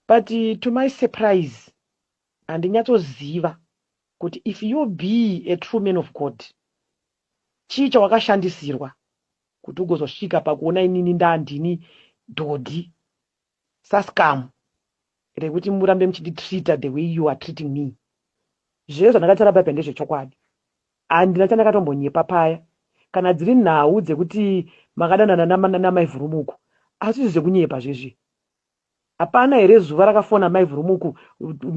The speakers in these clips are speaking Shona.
But to my surprise handinyatsoziva kuti if you be a true man of God chii chawakashandisirwa kuti ugozosvika pakuona inini ndandini dhodhi sascum rekuti murambe muchinditreater the way you are treating me. Zviye zvandakataura paipa ndezvechokwadi. Handina chandakatombonyepa paya kana dziri nhau dzekuti makadanana namai Vhurumuku asi zvekunyepa zvezvi Hapana here zuva rakafona mai Vurumuku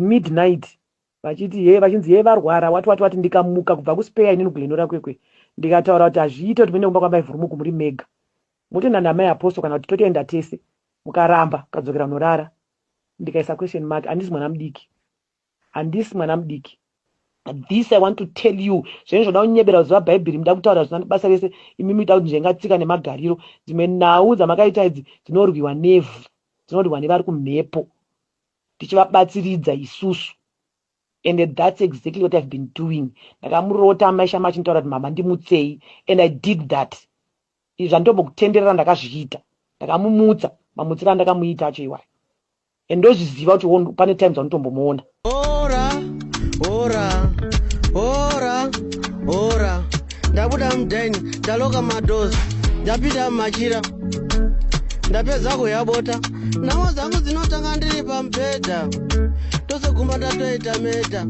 midnight vachiti hee vachinzi hee varwara wati wati wati ndikamuka kubva kuspare inini kuGlenora kwekwe ndikataura kuti hazviite kuti muende kumba kwamai Vurumuku muri mega motoenda namai Apostle kana kuti totoenda tese mukaramba kadzokera kunorara ndikaisa question mark handisi mwana mudiki Handisi mwana mudiki. This I want to tell you. Zvenyu zvoda kunyebera kuziva Bhaibheri muda kutaura zvisina nebasa rese imi muita kuti nzvenga tsika nemagariro. Dzimwe nhau dzamakaita idzi dzinorwiwa nevhu. Dzinorwiwa nevari kumhepo. Tichivabatsiridza isusu. And that's exactly what I've been doing. Ndakamurota amai Shama achinitaura kuti mama ndimutsei and I did that. Izvi zvanditombokutenderera ndakazviita. Ndakamumutsa mamutsiro andakamuita acho iwayo. and ndozviziva kuti pane times vanotombomuona ora ora ora ora ndabuda mudhaini ndaloka madozi ndapinda mumachira ndapedza kuyabota namo dzangu dzinotanga ndiri pamubhedha tosegumba ndatoita meta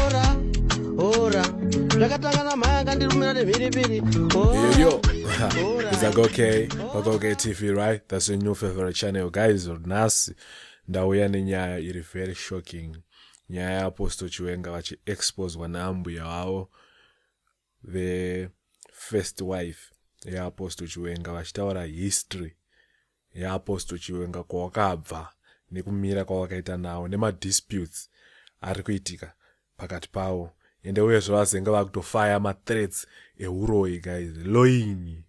ora ora zvakatanga namhaya akandirumira nemhiripiri ora, ora. It's like, okay, okay, okay, TV, right? That's your new favorite channel, guys. Nhasi ndauya nenyaya iri very shocking. Nyaya yaApostle Chiwenga vachiexposwa naambuya vavo vefirst wife yaApostle Chiwenga vachitaura history yaApostle Chiwenga kwawakabva nekumira kwawakaita nawo nemadisputes ari kuitika pakati pavo ende uyezve vazenge vakutofaya mathreats ehuroyi guys loyinyi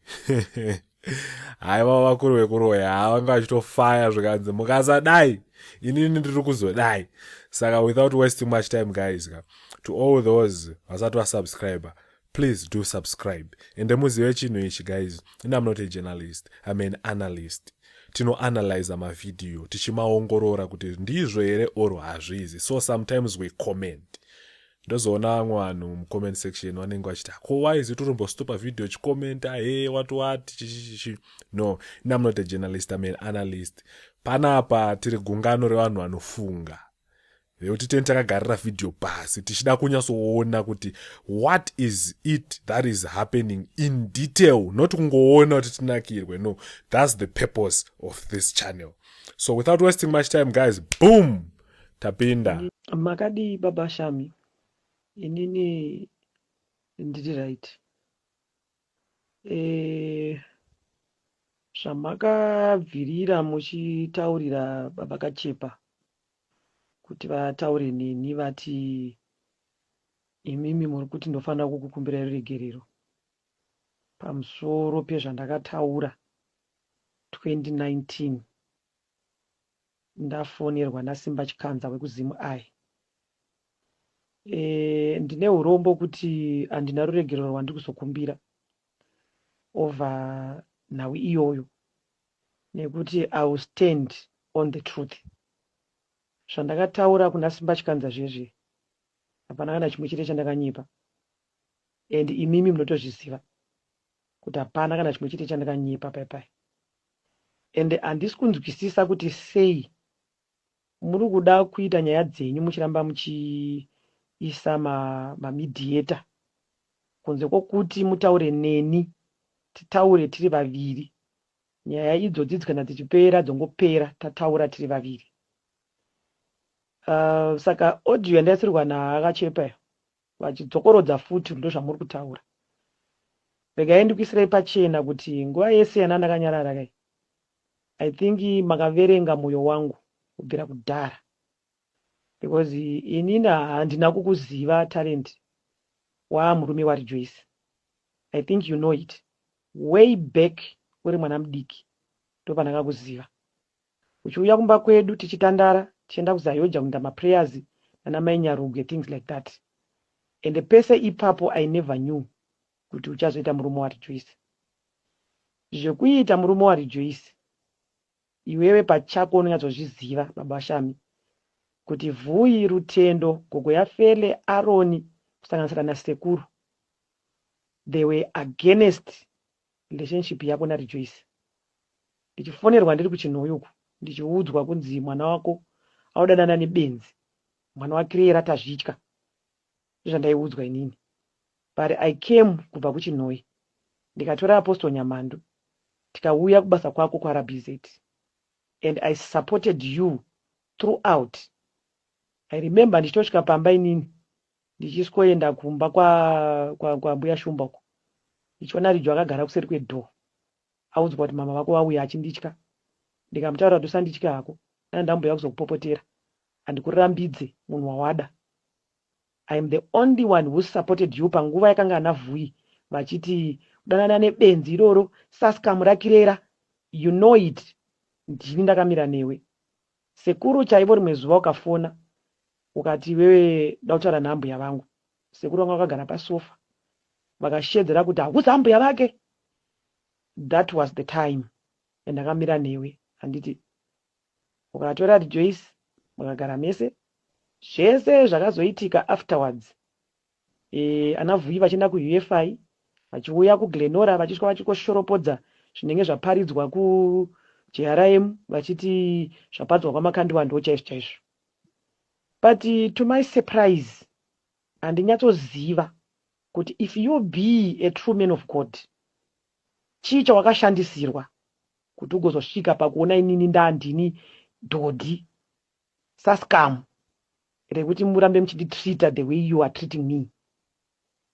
haiva vakuru vekuroya haa vanga vachitofaya zvikanzi mukasadai inini ndiri kuzodai saka without wasting much time guys ka to all those vasati vasubscriber please do subscribe ende muzive chinhu ichi guys and i'm not a journalist i'm an analyst tinoanalyza mavhidhiyo tichimaongorora kuti ndizvo here or hazvizi so sometimes we comment ndozoona vamwe vanhu mucomment section vanenge vachiti ko wise utorombostopa vhidhiyo chikomenta he wati wati chichichichi no inam not a journalist aman analyst panapa tiri gungano revanhu vanofunga nekuti teni takagarira vhidhiyo pasi tichida kunyatsoona kuti what is it that is happening in detail not kungoona kuti tinakirwe no thats the purpose of this channel so without wasting much time guys boom tapinda makadii baba shami inini ndiri right Eh zvamakabvirira muchitaurira baba Kachepa kuti vataure neni vati imimi muri kuti ndofanira kukukumbirai ruregerero pamusoro pezvandakataura 2019 Ndafonerwa naSimba Chikanza wekuZim I. Eeh ndine hurombo kuti handina ruregerero rwandiri kuzokumbira over nhau iyoyo nekuti I will stand on the truth. Zvandakataura kuna Simba Chikanza zviye zviye. Hapana kana chimwe chete chandakanyepa and imimi munotozviziva kuti hapana kana chimwe chete chandakanyepa paipai. and handisi kunzwisisa kuti sei muri kuda kuita nyaya dzenyu muchiramba muchiisa ma, ma mediator kunze kwokuti mutaure neni titaure tiri vaviri nyaya idzodzi dzikana dzichipera dzongopera tataura tiri vaviri uh, saka audio yandaisirwa naakachepayo Vachidzokorodza futi ndozvamuri kutaura. Regai ndikuisirei pachena kuti nguva yese yanandakanyarara kai I think makaverenga moyo wangu kubvira kudhara because inini handina kukuziva Talent waa murume waRejoice. I think you know it. Way back uri mwana mudiki ndopandakakuziva. Uchiuya kumba kwedu tichitandara tichienda kuZayoja kunoita maprayers nana mai Nyaruge things like that ende pese ipapo I never knew kuti uchazoita murume waRejoice. Zvekuita murume waRejoice iwewe pachako unonyatsozviziva baba Shami kuti Vhuyi, Rutendo, gogo yaFele, Aroni kusanganisira nasekuru they were against Relationship yako na Rejoice. Ndichifonerwa ndiri kuChinhoyi uku ndichiudzwa kunzi mwana wako audanana nebenzi mwana wa Creera Tazvitya ndozvandaiudzwa inini but I came kubva kuChinhoyi ndikatora Apostle Nyamhandu tikauya kubasa kwako kwaRbz and I supported you throughout. I remember ndichitosvika pamba inini Ndichisvoenda kumba kwa, kwa, kwa mbuya Shumba uko ndichiona Rijo akagara kuseri kwedoor audzwa kuti mama vako vauya achinditya ndikamutaurira kuti usanditye hako dai ndambouya kuzokupopotera handikurambidze munhu wawada I am the only one who supported you panguva yakanga ana Vhuyi vachiti kudanana nebenzi iroro saskamu rakirera you know it ndini ndakamira newe Sekuru chaivo rimwe zuva ukafona ukati iwewe ndakutaura naambuya vangu sekuru vanga vakagara pasofa vakashedzera kuti hakusi ambuya vake that was the time yandakamira newe handiti ukatora Rejoice mukagara mese zvese zvakazoitika afterwards Eeh ana Vhuyi vachienda ku UFI vachiuya ku Glenora vachisvika vachingoshoropodza zvinenge zvaparidzwa ku JRM vachiti zvaparidzwa kwa Makandiwa ndochaizvo chaizvo but to my surprise handinyatsoziva kuti if you be a true man of God chii chawakashandisirwa kuti ugozosvika pakuona inini ndandini dhodhi Sascum rekuti murambe muchindi treater the way you are treating me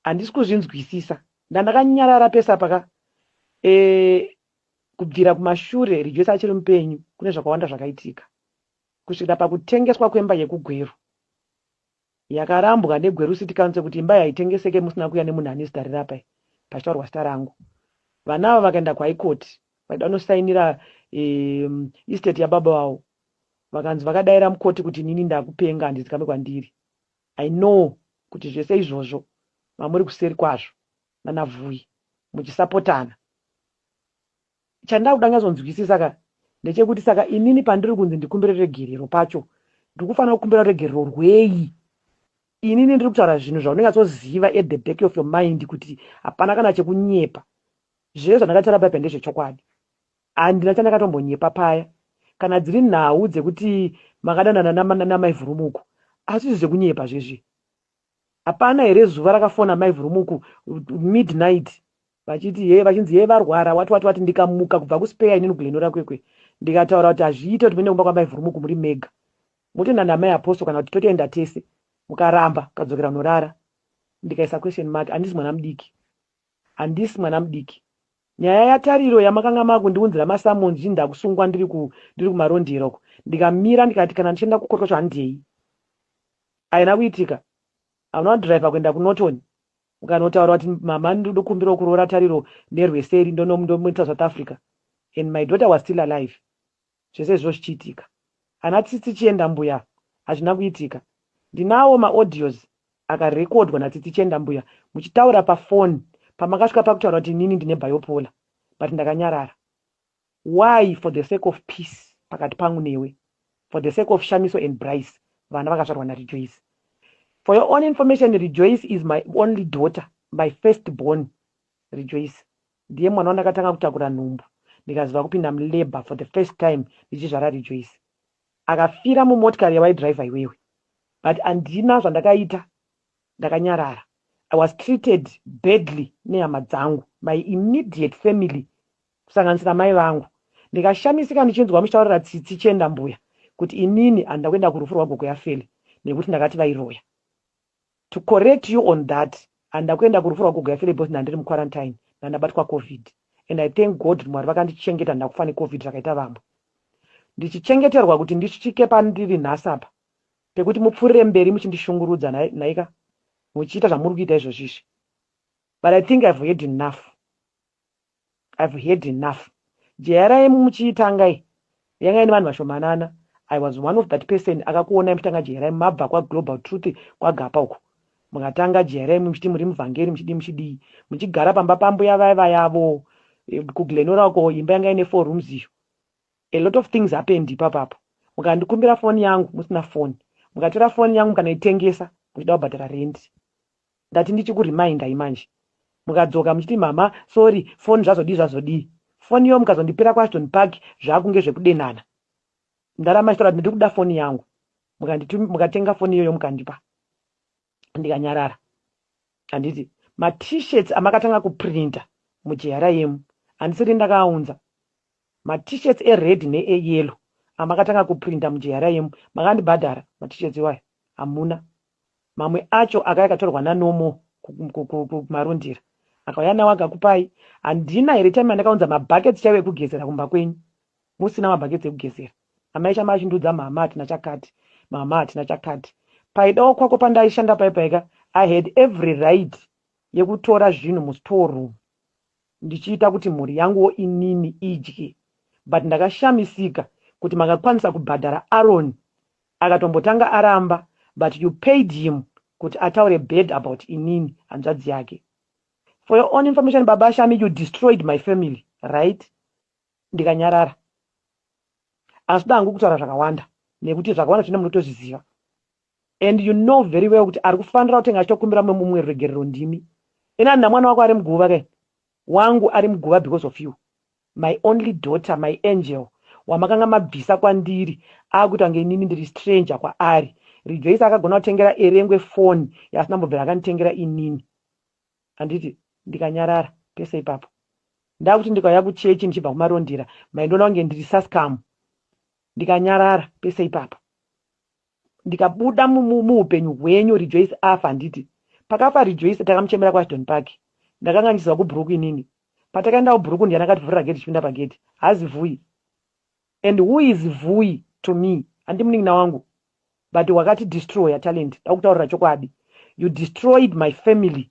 handisi kuzvinzwisisa. Ndandakanyarara pese apa ka eeh kubvira kumashure Rejoice achiri mupenyu kune zvakawanda zvakaitika kusvikira pakutengeswa kwemba yekuGweru. Yakarambwa neGweru City Council kuti imba iyi haitengeseke musina kuuya nemunhu ane zita reRapai pachitaurwa zita rangu. Vana ava vakaenda kuHigh Court vaida kunosainira estate yababa vavo vakanzi vakadaira mukoti kuti inini ndakupenga handizikambe kwandiri. I know kuti zvese izvozvo mamuri kuseri kwazvo nana Vhuyi muchisapotana. Chandakuda nyazonzwisisa ka ndechekuti saka inini pandiri kunzi ndikumbire ruregerero pacho ndikufanira kukumbira ruregerero rwei inini ndiri kutaura zvinhu zvaunonyatsoziva at the back of your mind kuti hapana kana chekunyepa zvese zvandakataura bhaibheri ndezvechokwadi handina chandakatombonyepa paya kana dziri nhau dzekuti makadanana namaivhurumuko asi izvi zvekunyepa zvezvi Hapana here zuva rakafona mai Vurumuku midnight vachiti hee vachinzi hee varwara wati wati wati ndikamuka kubva kuspare inini kuGlenora kwekwe ndikataura kuti hazviite kuti muende kumba kwamai Vurumuku muri mega motoenda namai Apostle kana kuti totoenda tese mukaramba kadzokera kunorara ndikaisa question mark handisi mwana mudiki handisi mwana mudiki nyaya yatariro yamakanga makundiunzira masamons zvinhu ndakusungwa ndiri ku ndiri kumarondera uko ndikamira ndikati kana ndichienda kukorokosho handei Haina kuitika. Hamuna kudriver kuenda kuNorton mukanotaura kuti mama ndokumbirawo kuroora Tariro neRweseri ndonomuita South Africa and my daughter was still alive zvese izvozvo zvichiitika. Ana Tsitsi Chienda Mbuya hazvina kuitika. Ndinawo maaudios akarecordwa naTsitsi Chienda Mbuya muchitaura paphone pamakasvika pakutaura kuti inini ndine bipolar but ndakanyarara. Why for the sake of peace pakati pangu newe, for the sake of Shamiso and Bryce vana vakazvarwa na Rejoice. For your own information Rejoice is my only daughter, my first born Rejoice ndiye mwana wandakatanga kutakura nhumbu ndikaziva kupinda mu labour for the first time ndichizvara Rejoice. Akafira mu motikari yawai driver iwewe but handina zvandakaita ndakanyarara. I was treated badly nehama dzangu, my immediate family kusanganisira mai vangu. Ndikashamisika ndichinzwa muchitaurira tsitsi chienda mbuya kuti inini handina kuenda kurufu rwagogo yaFelly nekuti ndakati vairoya. To correct you on that handina kuenda kurufu rwagogo yaFelly because ndandiri muquarantine ndandabatwa Covid and I thank God kuti Mwari vakandichengeta handina kufa neCovid zvakaita vamwe. Ndichichengeterwa kuti ndisvike pandiri nhasi apa pekuti mupfuurire mberi muchindishungurudza nhaika muchiita zvamuri kuita izvozvi izvi but I think I've heard enough. I've had enough. JRIM muchiitanga iyi yanga ine vanhu vashomanana. I was one of that person akakuonai muchitanga JRIM mabva kwaGlobal Truth kwaGapa uko. Mukatanga JRIM muchiti muri muvhangeri muchidii muchidii. Muchigara pamba pambuya vaye vaya avo eh, kuGlenora uko imba yanga ine four rooms iyo. A lot of things happened ipapo apo. Mukandikumbira phone yangu musina phone. Mukatora phone yangu mukanoitengesa muchida kubhadhara rent. Ndati ndichiku remindai manje mukadzoka muchiti mhamha sorry foni zvazodii zvazodii foni yoo mukazondipira ku Ashton Park zvaakunge zvekudenana mdhara machitaura kuti ndirikuda foni yangu mukanditum mukatenga foni iyoyo mukandipa ndikanyarara handiti ma t-shirts amakatanga ku printer mu GRIM handisiri ndakaaunza ma t-shirts e red ne e yellow amakatanga ku printer mu GRIM makandibhadhara ma t-shirts iwayo hamuna mamwe acho akauya akatorwa naNomo kuMarundira akauya nawo akakupai. Handina here time yandakaunza mabuckets chaiwo ekugezera kumba kwenyu musina mabuckets ekugezera? Amai Shama achindiudza mama hatina chakati, mama hatina chakati. Paidawo kwako pandaishanda pai paika I had every right yekutora zvinhu mustore room ndichiita kuti mhuri yanguwo inini idye but ndakashamisika kuti makakwanisa kubhadhara Aaron Akatombotanga aramba but you paid him kuti ataure bad about inini hanzvadzi yake. For your own information baba Shami you destroyed my family right? Ndikanyarara. Asida hangu kutaura zvakawanda nekuti zvakawanda zvine munotozviziva and you know very well kuti ari kufanira kutenga achitokumbira mumwe mumwe ruregerero ndimi ena ndina mwana wako ari muguva kai wangu ari muguva because of you My only daughter, my angel wamakanga mabvisa kwandiri akuita kunge inini ndiri stranger kwaari. Rejoice akagona kutengera Erengwe phone yaasina kumbobvira akanditengera inini handiti? Ndikanyarara pese ipapo ndakuti ndikauya kuchechi ndichibva kuMarondera maindiona kunge ndiri sascum. Ndikanyarara pese ipapo. ndikabuda muupenyu hwenyu Rejoice afa handiti pakafa Rejoice takamuchemera kuAshton Park ndakanga ndichiziva kubhuruku inini patakaenda kubhuruku ndiani akativhurira gate tichipinda pagate hazi Vui and who is Vui to me handi munin'ina wangu but wakati destroyer Talent dakutaurira chokwadi you destroyed my family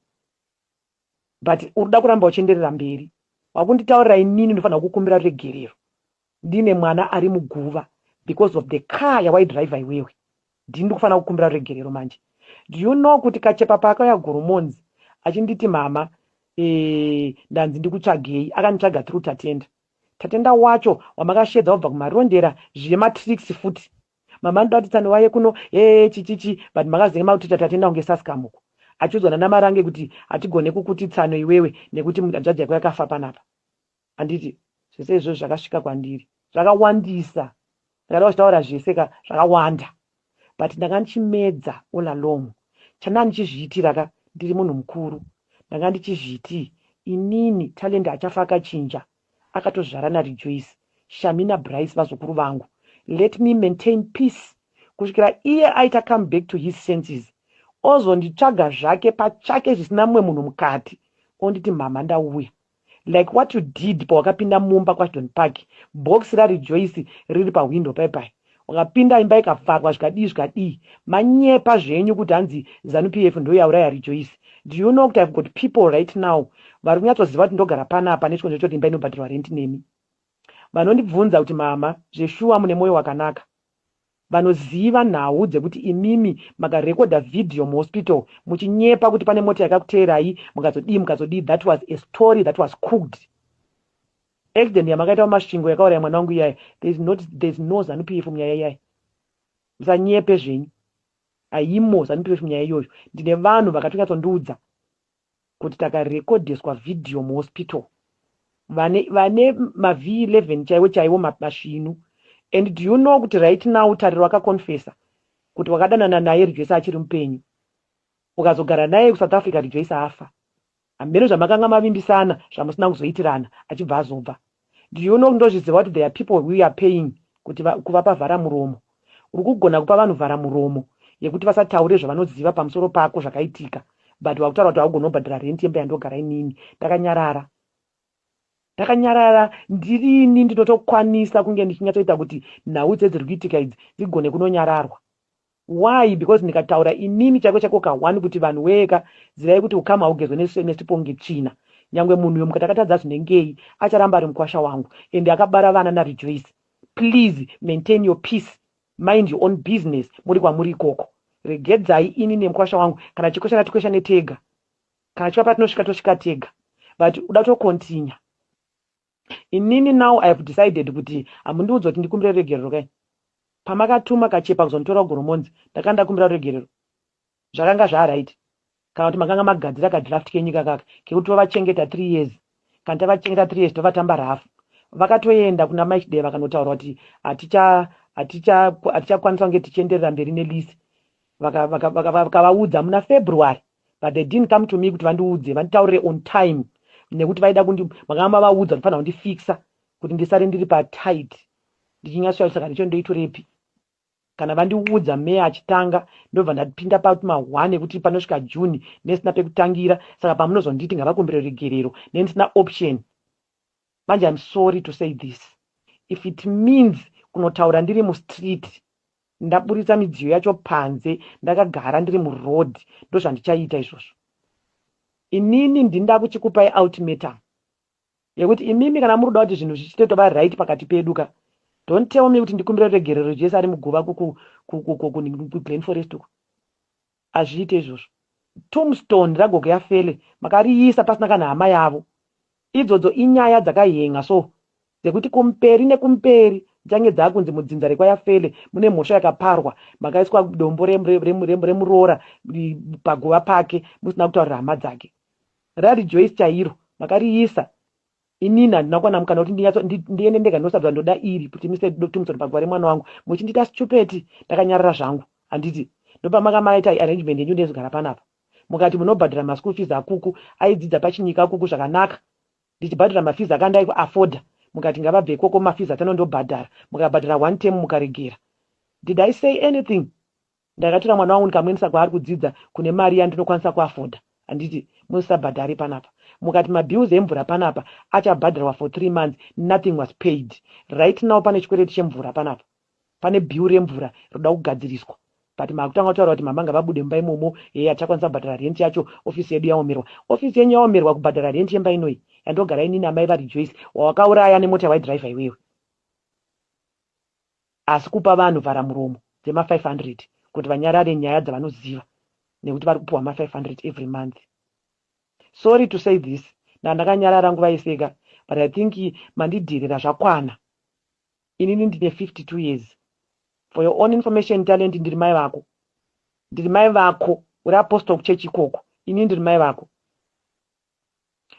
but urikuda kuramba uchienderera mberi wakunditaurira inini ndofanira kukumbira regerero ndine mwana ari muguva because of the car yawaidriver iwewe ndini ndikufanira kukumbira regerero manje do you know kuti kachepa paakauya goromonzi achinditi mama eh, ndanzi ndikutsvagei akanditsvaga through tatenda tatenda wacho wamakashedza wabva kumarondera zviye matricks futi Mama anoda kuti Tsano vauye kuno hee chichichi but makazenge makuti tati atoenda kunge saskam uko achiudzwa nana Marange kuti hatigone kukuti Tsano iwewe nekuti mhanzvadzi yako yakafa panapa handiti zvese izvozvo zvakasvika kwandiri zvakawandisa ndakada kuchitaura zvese ka zvakawanda but ndanga ndichimedza all along chandanga ndichizviitira ka ndiri munhu mukuru ndanga ndichizviti inini Talent achafa akachinja akatozvara na Rejoice, Shami na Brice vazukuru vangu let me maintain peace kusvikira iye aita come back to his senses ozonditsvaga zvake pachake zvisina mumwe munhu mukati onditi mhamha ndauya like what you did pawakapinda mumba kwa Don Park box ra Rejoice riri pa window paye paye. Wakapinda imba ikavharwa zvikadii zvikadii. Manyepa zvenyu kuti hanzi zanu PF ndiyo yauraya Rejoice. Do you know kuti I've got people right now vari kunyatsoziva kuti ndogara panapa nechikonzero chekuti imba inobhadharwa rent nemi. Vanondibvunza kuti mama zveshuwa mune moyo wakanaka. Vanoziva nhau dzekuti imimi maka recorder video mu hospital muchinyepa kuti pane mota yakakuteerai mukazodii mukazodii that was a story that was cooked. Accident yamakaita kuMasvingo yakauraya mwana wangu iyaya there is not there is no Zanu PF munyaya iyaya. Musanyepe zvenyu. Haimo Zanu PF munyaya iyoyo. Ndine vanhu vakatonyatsondiudza kuti takarekodheswa video muhospital vane vane maV 11 chaiwo chaiwo masvinu and do you know kuti right now Tariro akaconfessa kuti wakadanana naye Rejoice achiri mupenyu. Ukazogara naye kuSouth Africa Rejoice afa. Hameno zvamakanga mavimbisana zvamusina kuzoitirana achibva azobva do you know ndozviziva kuti there are people who are paying kuti va, kuvapa vhara muromo uri kugona kupa vanhu vhara muromo yekuti vasataure zvavanoziva pamusoro pako zvakaitika but wakutaura kuti haugoni kubhadhara rent yemba yandogara inini ndakanyarara ndakanyarara ndirini ndinotokwanisa kunge ndichinyatsoita kuti nhau dzedziri kuitika idzi dzigone kunonyararwa Why because ndikataura inini chaiko chaiko ka one kuti vanhu wee ka zivai kuti ukama haugezwe ne same stipongi tsvina nyangwe munhu uyo mukatakatadza zvinengei acharamba ari mukwasha wangu ende akabara vana na Rejoice please maintain your peace mind your own business muri kwamuri ikoko regedzai ini nemkwasha wangu kana chikweshana tikweshane tega kana chiva patinosvika tosvika tega but uda to continue Inini now I have decided kuti hamundiudze kuti ndikumbire ruregerero kai. Pamakatuma kachepa kuzonditora kuGoromonzi ndakanga ndakumbira ruregerero. Zvakanga zvaaright. Kana kuti makanga magadzira kadraft kenyu ikakaka kekuti tovachengeta three years. Kana tavachengeta three years tovatamba rafu. Vakatoenda kuna Mai Chideva vakanotaura kuti hatichakwanisa kunge tichienderera mberi nelease. vakavaudza muna February but they didn't come to me kuti vandiudze vanditaurire on time nekuti vaida kundi makanga mavaudza kuti fanira kundifixa kuti ndisare ndiri patight ndichinyasoya saka ndicho ndoitorepi kana vandiudza meya achitanga ndobva ndapinda patuma one ekuti panosvika june nesina pekutangira saka pamunozonditi ngavakumbire regerero nendisina option manje im sorry to say this if it means kunotaura ndiri mustreet Ndaburitsa midziyo yacho panze ndakagara ndiri muroad ndozvandichaita izvozvo inini ndini ndakuchikupai ultimatum yekuti imimi kana muri kuda kuti zvinhu zvichite tova right pakati pedu ka don't tell me kuti ndikumbire ruregerero Jesu ari muguva kuglen forest uko Hazviite izvozvo. Tombstone ragogo yaFelly makariisa pasina kana hama yavo. Idzodzo inyaya dzakahen'a so dzekuti kumberi nekumberi dzichange dzakunzi mudzinza rekwayaFelly mune mhosva yakaparwa makaiswa dombo remuroora paguva pake musina kutaurira hama dzake. RaRejoice chairo makariisa Inini handina kuwana mukana kuti ndinyatso ndiende ndega ndosabva ndoda iri kuti Mr Dr Thompson pagwa remwana wangu muchindita stupid ndakanyarara zvangu handiti ndopamaka maita arrangement yenyu ndezogara panapa mukati munobhadhara maschool fees akuku aidzidza pachinyika akuku zvakanaka ndichibhadhara mafees aka ndaiku afforda mukati ngavabve ikoko mafees atano ndobhadhara mukabhadhara one term mukaregera did I say anything Ndakatora mwana wangu ndikamuendesa kwaari kudzidza kune mari yandinokwanisa kuafoda handiti musisabhadhare ipanapa mukati mabills emvura panapa achabhadharwa for three months nothing was paid right now pane chikwereti chemvura panapa pane bill remvura roda kugadziriswa but makutanga kutaura kuti mama ngavabude mumba imomo heye hatichakwanisa kubhadhara rent yacho office yedu yaomerwa office yenyu yaomerwa kubhadhara rent yemba inoi yandogara inini amai vaRejoice wawakauraya nemota waidriver iwewe Asi kupa vanhu vharamuromo dzema 500 kuti vanyarare nyaya dzavanoziva nekuti vari kupuhwa ma 500 every month. Sorry to say this nda ndakanyarara nguva yese ka but I think mandidherera zvakwana inini ndine 52 years for your own information Talent ndiri mai vako ndiri mai vako uri apostle kuchurch ikoko inini ndiri mai vako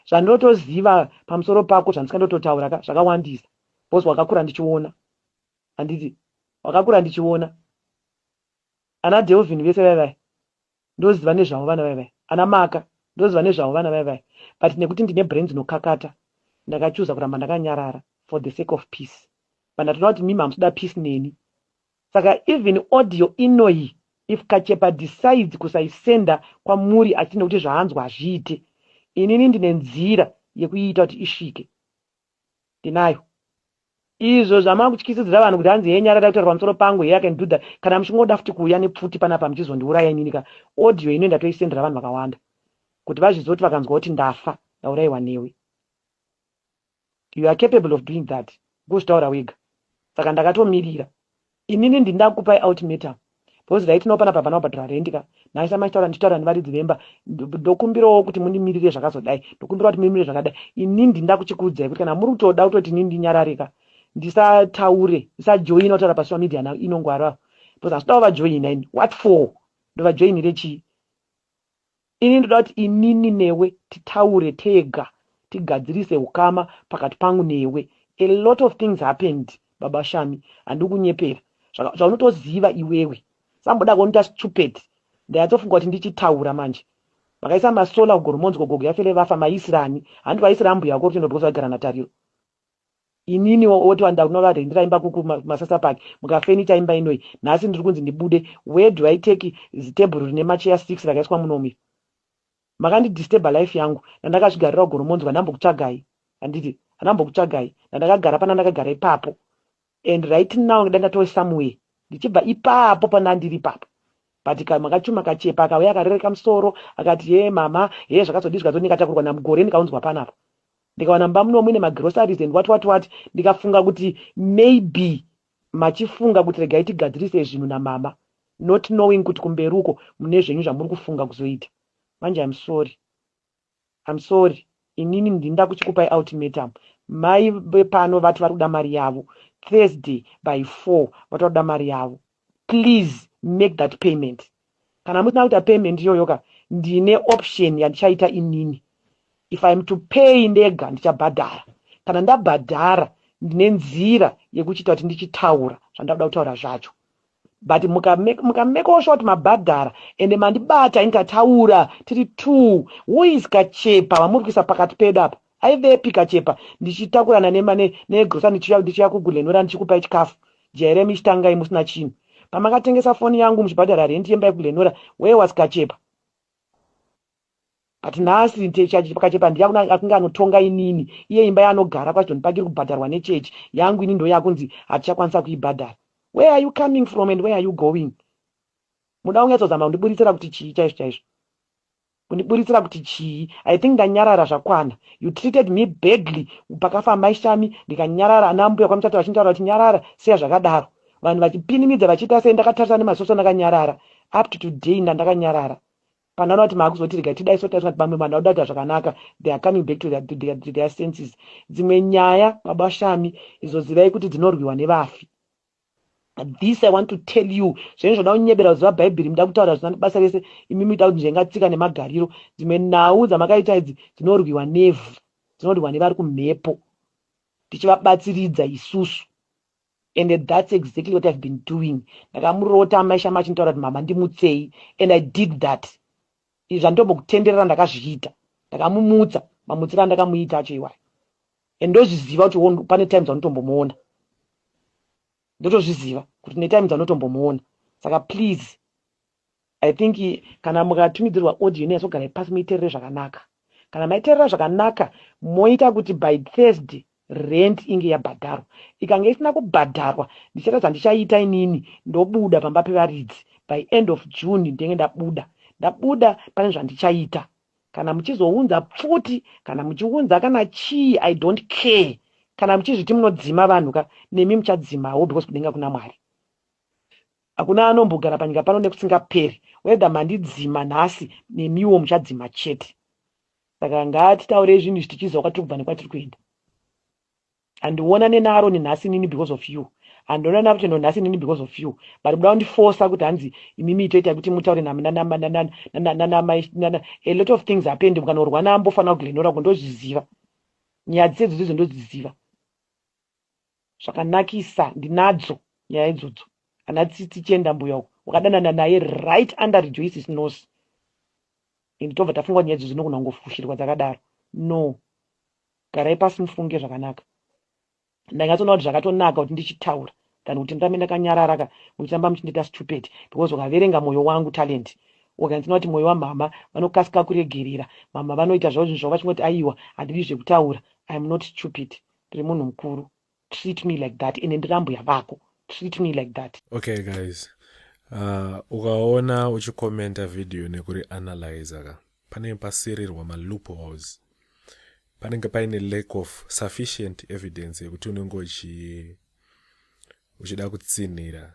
Zvandinotoziva pamusoro pako zvandisingandototaura ka zvakawandisa because wakakura ndichiona handiti wakakura ndichiona ana Delvin vese vaya vaya ndoziva nezvavo vana vaya vaya ana Maka ndoziva nezvavo vana vaya vaya but nekuti ndine brain dzinokakata ndakachuza kuramba ndakanyarara for the sake of peace but ndatoona kuti mimi hamusi kuda peace neni Saka even audio inoyi if Kachepa decides kusaisender kwamuri asi nekuti zvaanzwa hazviite, inini ndine nzira yekuiita kuti isvike. Ndinayo. Izvo zvamakutyisidzira vanhu kuti hanzi hee Nyarari ari kutaura pamusoro pangu, hee I can do that, kana muchingoda futi kuuya nepfuti panapa muchizondiuraya inini ka audio inoyi ndatoisendera vanhu vakawanda kuti vazvizive kuti vakanzwa kuti ndafa ndauraiwa newe. You are capable of doing that kuzvitaura wega saka ndakatomirira Inini ndini ndakukupai ultimatum because ndaitinawo panapa havana kubhadhara rent ka nhai samai chitaura ndichitaura nevaridzi vemba ndokumbirawo kuti mundimirire zvakazodai ndokumbirawo kuti mumirire zvakadai inini ndini ndakuchikuudzai kuti kana muri kutoda kutoti inini ndinyarare ka ndisataure ndisajoina kutaura pasocial media now inongwara because handitodawo vajoina ini what for ndovajoinire chii Ini ndoda kuti inini newe titaure tega tigadzirise hukama pakati pangu newe. A lot of things happened baba Shami handidi kukunyepera. Zvaka, zvaunotoziva iwewe. Samboda kundiita stupid. Ndanyatsofunga kuti ndichitaura manje. Makaisa masolar kugoromonzi ko gogo yaFele vafa maiisira ani? Hanti vaisira ambuya vako Rutendo because vaigara naTariro. Inini woti wanda kunovarendera imba kuku masasa park mukafenita imba inoi nhasi ndiri kunzi ndibude where do I take zitebhuru rine macheya six rakaiswa muno umu iri makandidisturber life yangu ndandakazvigarira ugoromonzwa ndambokutsvagai handiti handambokutsvagai ndandakagara pana ndakagara ipapo And right now ndanga ndatove somewhere ndichibva ipapo pandandiri ipapo but kamwe kachuma kachepa akauya akarereka musoro akati hee mama hee zvakazodii zvikazoti ndikatakurwa namugore ndikaunzwa panapa ndikawana mumba muno muine magroceries and what what what ndikafunga kuti maybe machifunga kuti regai tigadzirise zvinhu namama not knowing kuti kumberi uko mune zvenyu zvamuri kufunga kuzoita manje im sorry I'm sorry inini ndinda kuchikupai ultimatum mai vepano vati vari kuda mari yavo Thursday by four vati vari kuda mari yavo please make that payment kana musina kuita payment iyoyo ka ndine option yandichaita inini if I'm to pay ndega ndichabhadhara kana ndabhadhara ndine nzira yekuchiita kuti ndichitaura zvandauda kutaura zvacho but mukamekawo short mabhadhara ende mandibata ini tataura tiri two who is kachepa vamuri kuisa pakati pedu apa aivepi kachepa ndichitakurana negrosa ndichiuya kugulhenura ndichikupai chikafu jaire michitangai musina chinhu pamakatengesa foni yangu muchibhadhara rendi yemba yekugulhenura where was kachepa But nhasi church pakachepa ndiye akunge anotonga inini iye imba yaanogara kwaSidon Park iri kubhadharwa nechurch yangu ini ndoyakunzi hatichakwanisa kuibhadhara. Where are you coming from and where are you going? Munoda kunyatsozama kundiburitsira kuti chii chaizvo chaizvo? Kundiburitsira kuti chii? I think ndanyarara zvakwana. You treated me badly pakafa amai Shami ndikanyarara ana mbuya kwaMuchato vachintaura kuti nyarara siya zvakadaro. Vanhu vachipinimidza vachiita seni ndakatarisa nemasoso ndakanyarara. Up to today ndandakanyarara. Kana vana vati maakuzotirega tidai so taiswa kuti pamwe vanhu vakuda kuita zvakanaka they are coming back to their, to their, to their senses. Dzimwe nyaya baba Shami idzo zivai kuti dzinorwiwa nevafi. This I want to tell you zvenyu zvoda kunyebera kuziva bhaibheri muda kutaura zvisina basa rese imi muita kuti njenga tsika nemagariro. Dzimwe nhau dzamakaita idzi dzinorwiwa nevhu dzinorwiwa nevari kumhepo tichivabatsiridza isusu. and that's exactly what ive been doing ndakamurota amai shama achinitaura kuti mama ndimutsei and i did that izvi zvanditombokutenderera ndakazviita ndakamumutsa mamutsira andakamuita acho iwayo and ndozviziva kuti pane times anotombomuona ndotozviziva kuti netime dzanotombomuona saka please I think kana mukatumidzirwa audio inatsogarai pasi muiterere zvakanaka. Kana maiterera zvakanaka moita kuti by Thursday rent inge yabhadharwa. Ikange isina kubhadharwa ndichaita zvandichaita inini ndobuda pamba pevaridzi by end of June ndenge ndabuda. Ndabuda pane zvandichaita. Kana muchizounza pfuti kana muchiunza kana chii I don't care. Kana muchizviti munodzima vanhu ka nemi muchadzimawo because kudenga kuna Mwari. Hakuna anombogara panyika pano nekusingaperi. Whether mandidzima nhasi nemiwo muchadzima chete. Saka ngatitaurei zvinhu izvi tichiziva kwatiri kubva nekwatiri kuenda. Handionane naAroni nhasi nini because of you. Handionane naRutendo nhasi nini because of you. But muda kundifosa kuti hanzi imimi itoita kuti mutaure nanamai. A lot of things happen. Mukanorwa naambofanira kuGlenora uko ndozviziva. Nyaya dzese dzodzidzo ndodziziva. zvakanakisa ndinadzo nyaya idzodzo ana tsitsi chienda mbuya uko wakadanana naye right under rejoices nose and tobva tafunga nyaya idzodzo nogona kungofushirwa dzakadaro no garai pasi mufunge zvakanaka ndanyatsoona kuti zvakatonaka kuti ndichitaura than kuti ndirambe ndakanyarara ka muchitamba muchindiita stupid because wakaverenga mwoyo wangu talent wakanzina kuti mwoyo wamhama vanokasika kuregerera mhama vanoita zvavo zvinhu zvavo vachingoti aiwa handidi zvekutaura iam not stupid ndiri munhu mukuru treat me like that ende ndiri ambuya vako treat me like that okay guys uh, ukaona uchikomenta video nekuri analyza ka panenge pasirirwa maloopholes panenge paine lack of sufficient evidence yekuti unenge uchi uchida kutsinhira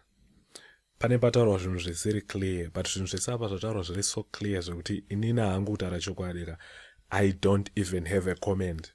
pane pataurwa zvinhu zvisiri clear but zvinhu zvese apa zvataurwa zviri so clear zvekuti inini hangu kutaura chokwadi ka i don't even have a comment